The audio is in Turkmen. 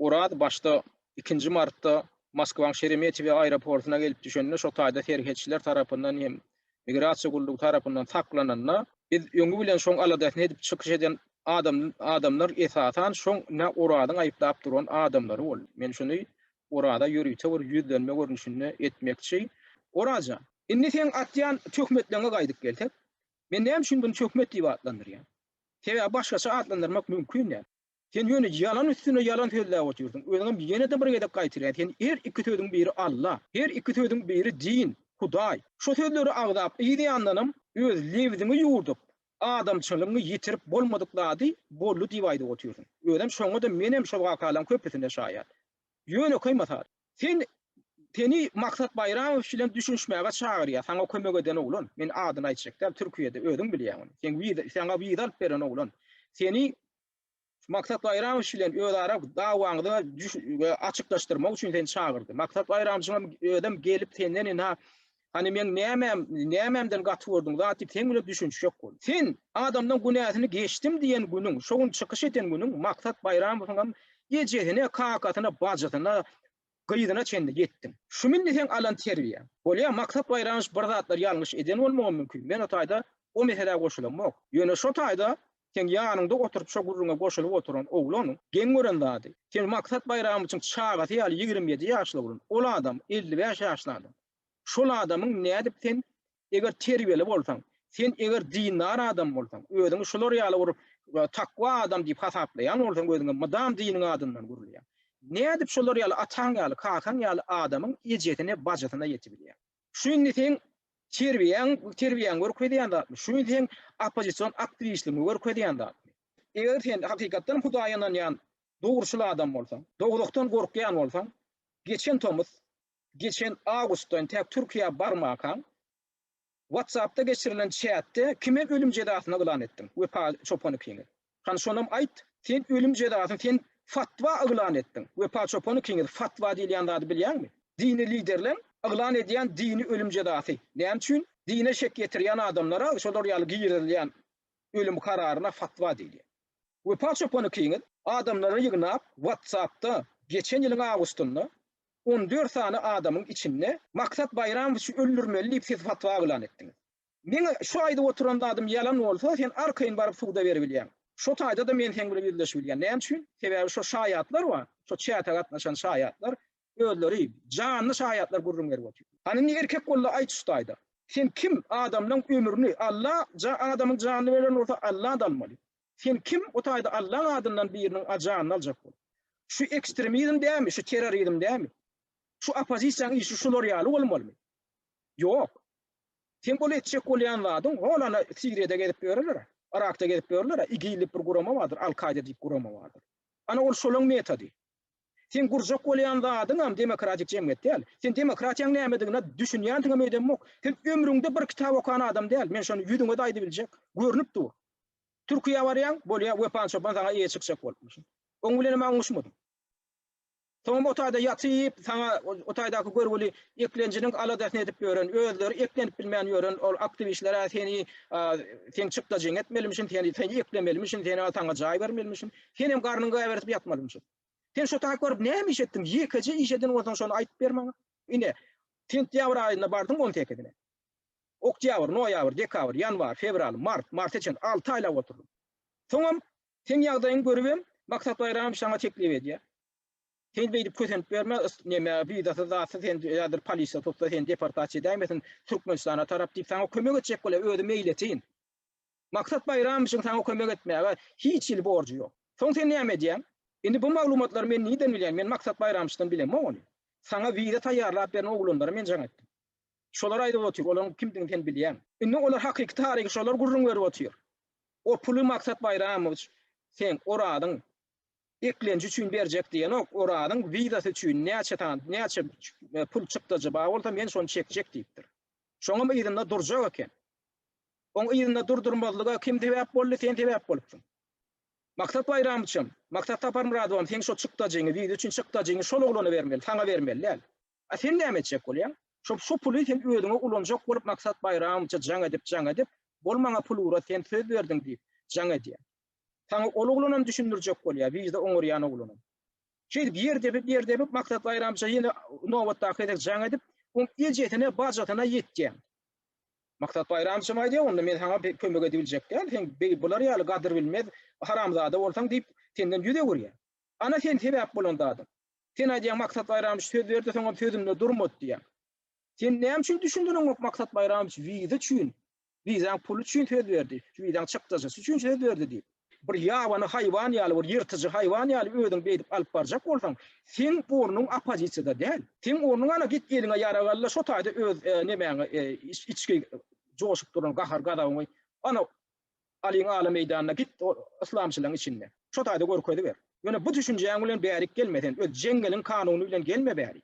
Oraz başda ikinji martda Moskwanyň Şeremetýewo aeroportyna gelip düşende şo taýda serhetçiler tarapyndan hem migrasiýa gullugy tarapyndan saklananda, biz öňi bilen şoň aladasyny edip çykyş eden adamlar esasan şoň nä Orazyň aýyplap duran adamlary boldy. Men şuny Oraza ýörite bir ýüzlenme görnüşinde etmekçi. Oraz jan, indi seň atýan töhmetleňe gaýdyp gelsek, Men näme üçin muny töhmet diýip atlandyrýan? Sebäbi başgaça atlandyrmak mümkin däl. Sen ýöne ýalan üstüne ýalan sözläp otyrsyň. Özüňem ýene-de bir gezek gaýtarýan, sen her iki sözüň biri Alla, her iki sözüň biri din, Hudaý. Şu sözleri agzap yzýandanam öz lebziňi ýuwdup, adamçylygyňy ýitirip bolmadyk zady boldy diýip aýdyp otyrsyň. Özem şoňa-da menem şol wakalaryň köpüsine şaýat. Ýönekeý mysal. Sen seni Maksat Baýramow bilen düşünişmäge çagyrýar, saňa kömek eden oglan, men adyny aýtjak däl, Türkiýede, özüň bilýäň ony. Sen wiza, saňa wiza alyp beren oglan. Seni Maksat Baýramow bilen özara dawaňyzy açyklaşdyrmak üçin seni çagyrdy. Maksat Baýramjyňam özem gelip senden ina Hany meň nämäm, nämämden gaty gördüň zat diýip seň bilen düşünişjek bol. Sen, adamdan günäsini geçdim diýen günüň, şo gün çykyş eden günüň Maksat Baýramowyňam ejesine, kakasyna, bajysyna, gyzyna çenli ýetdiň. Şum indi seň alan terbiýäň. Bolýa, Maksat Baýramow bir zatlar ýalňyş eden bolmagam mümkin, men o taýda o meselä goşulamok. Ýöne şo taýda seň ýanyňda oturyp şo gürrüňe goşulyp oturan oglan geň gören zady, sen Maksat Baýramowiçiň çagasy ýaly ýigrimi ýedi ýaşly oglan, ol adam elli bäş ýaşly adam. Şol adamyň nädip sen eger terbiýeli bolsaň, sen eger dindar adam bolsaň, özüňi şular ýaly bir takwa adam diýip hasaplaýan bolsaň özüňe mydam diniň adyndan gürleýäň. Nädip şolar ýaly ataň ýaly, kakaň ýaly adamyň ejesine, bajysyna ýetibilýäň. Şu indi seň terbiýäň, terbiýäň görkezýän zatmy? Şu indi seň oppozision aktiwistligiňi görkezýän zatmy? Eger sen hakykatdan hem Hudaýa ynanýan dogruçyl adam bolsaň, dogulykdan gorkýan bolsaň, geçen tomus Geçen awgustdan tä Türkiýä barmakaň WhatsAppda geçirilen çätde kime ölüm jezasyny yglan etdiň? Wepa çopan ikiňiz. Hany şonam aýt, sen ölüm jezasyny sen fatwa yglan etdiň. Wepa çopan ikiňiz fatwa diýilýän zady bilýäňmi? Dini liderleň yglan edýän dini ölüm jezasy. Näme üçin dine şek ýetirýän adamlara şolar ýaly girizilýän ölüm kararyna fatwa diýilýär. Wepa çopan ikiňiz adamlary ýygnap WhatsAppda geçen ýylyň awgustynda On dört sany adamyň içinde Maksat Baýramowiçi öldürmeli diýip siz fatwa yglan etdiňiz. Meňe şu aýdyp oturan zadym ýalan bolsa, sen arkaýyn baryp suda beribilýäň. Şo taýda-da men seň bilen ýüzleşibilýän. Näme üçin? Sebäbi şo şaýatlar bar, şo çäte gatnaşan şaýatlar özleri janly şaýatlar gürrüň berip otyr. Hany indi erkek bol-da aýt şu taýda. Sen kim? Adamlaň ömrüni Alla ja adamyň janyny beren bolsa Alla-da almaly. Sen kim o taýda Allaň adyndan biriniň ajanyny aljak bolup? Şu ekstremizm dämi, şu terrorizm dämi? Şu oppozisiýaň işi şular ýaly bolmalymy? Ýok. Sen ol etjek bolýan zadyň hol ana Siriýada gezip ýörerler-ä, Yrakda gezip ýörerler-ä, IGIL diýip bir gurama bardyr, Al-Kaýda diýip gurama bardyr. Ana ol şolaň metody. Sen gurjak bolýan zadyňam demokratik jemgyýet däl. Sen demokratiýaň nämedigine düşünýändigiňem öýdemok. Sen ömrüňde bir kitap okan adam däl, men şony ýüzüňe-de aýdybiljek, görnüp dur. Türkiýä barýaň, bolýa, Wepan çopan saňa eýe çykjak bolupdyr. Oň bilenem aňňuşmadyň. Soňam o taýda ýatyp, saňa o taýdaky görgüli eklenjiniň aladasyny edip ýören, özleri eklenip bilmän ýören ol aktiwistler-ä seni, seň çykdajyňy etmelimişin, seni, seni eklemelimişin, seni-ä saňa jaý bermelimişin. Senem garnyň gäbertip ýatmalyňmyşyn. Sen şo taýy görüp näme iş etdiň? Ýekeje iş eden bolsaň şony aýdyp ber maňa. Ine, sentýabr aýynda bardyň on sekizine. Oktýabr, noýabr, dekabr, ýanwar, fewral, mart, marta çenli alty aýlap oturdym. Soňam seň ýagdaýyňy görübem, Maksat Baýramow saňa teklip edýär. Sen beýdip kösenip ýörme, ys, neme, wizasyz, zatsyz, sen häzir polisiýa tutsa, seni deportasiýa edäýmesin Türkmenistana tarap diýip, saňa kömek etjek bolýar, özi meýletin. Maksat Baýramowyň saňa kömek etmäge hiç hili borjy ýok. Soň sen näme edýäň? Indi bu maglumatlary men nirden bilýän, men Maksat Baýramowydan bilemok ony. Saňa wiza taýýarlap beren oglanlara men jaň etdim. Şolar aýdyp otyr, olaryň kimdigini sen bilýäň. Indi olar hakyky taryhy şolar gürrüň berip otyr. O puly Maksat Baýramowiç seň Orazyň eklenji üçin berjek diýenok, Orazyň wizasy üçin näçe sany, näçe pul çykdajy bar bolsa men şony çekjek diýipdir. Şoňam yzynda durjak eken. Oň yzynda durdurmazlyga kim sebäp boldy, sen sebäp bolupsyň. Maksat Baýramowiçem, Maksat Saparmyradowam seň şo çykdajyňy, wiza üçin çykdajyňy şol oglana bermeli, saňa bermeli däl. A sen näme etjek bolýaň? Şo şo puly sen özüňe ulanjak bolup Maksat Baýramowiçe jaň edip, jaň edip, Bol maňa pul ugrat, sen söz berdiň diýip, jaň edýär. Saňa ol oglanam düşündirjek bolýar, wije oňarýan oglanam. Şeýdip ýer depip, ýer depip Maksat Baýramowiçe ýene nobatdaky gezek jaň edip, oň ejesine, bajysyna ýetýär. Maksat Baýramowiçem aýdýar, onda men saňa kömek edibiljek däl, sen beý bular ýaly gadyrbilmez haramzada bolsaň diýip, senden ýüz öwürýär. Ana sen sebäp bolan zadyň. Sen aýdýaň Maksat Baýramowiç söz berdi soňam sözünde durmady diýýäň. Sen näme üçin düşündiriňok Maksat Baýramowiç wiza üçin, wizaň puly üçin söz berdi, şu wizaň çykdajysy üçin söz berdi diýip. Bir ýabany haýwan ýaly bir ýyrtyjy haýwan ýaly özüň beýdip alyp barjak bolsaň seň ornuň oppozisiýada däl. Seň ornuň ana git eliňe ýarag al-da şo taýda öz nemäňi içki joşup duran gahar-gazabyňy ana Alyň ala meýdanyna git ol yslamçylaň içinde. Şo taýda görkeziber. Ýöne bu düşünjäň bilen bärik gelme sen öz jeňňeliň kanuny bilen gelme bärik.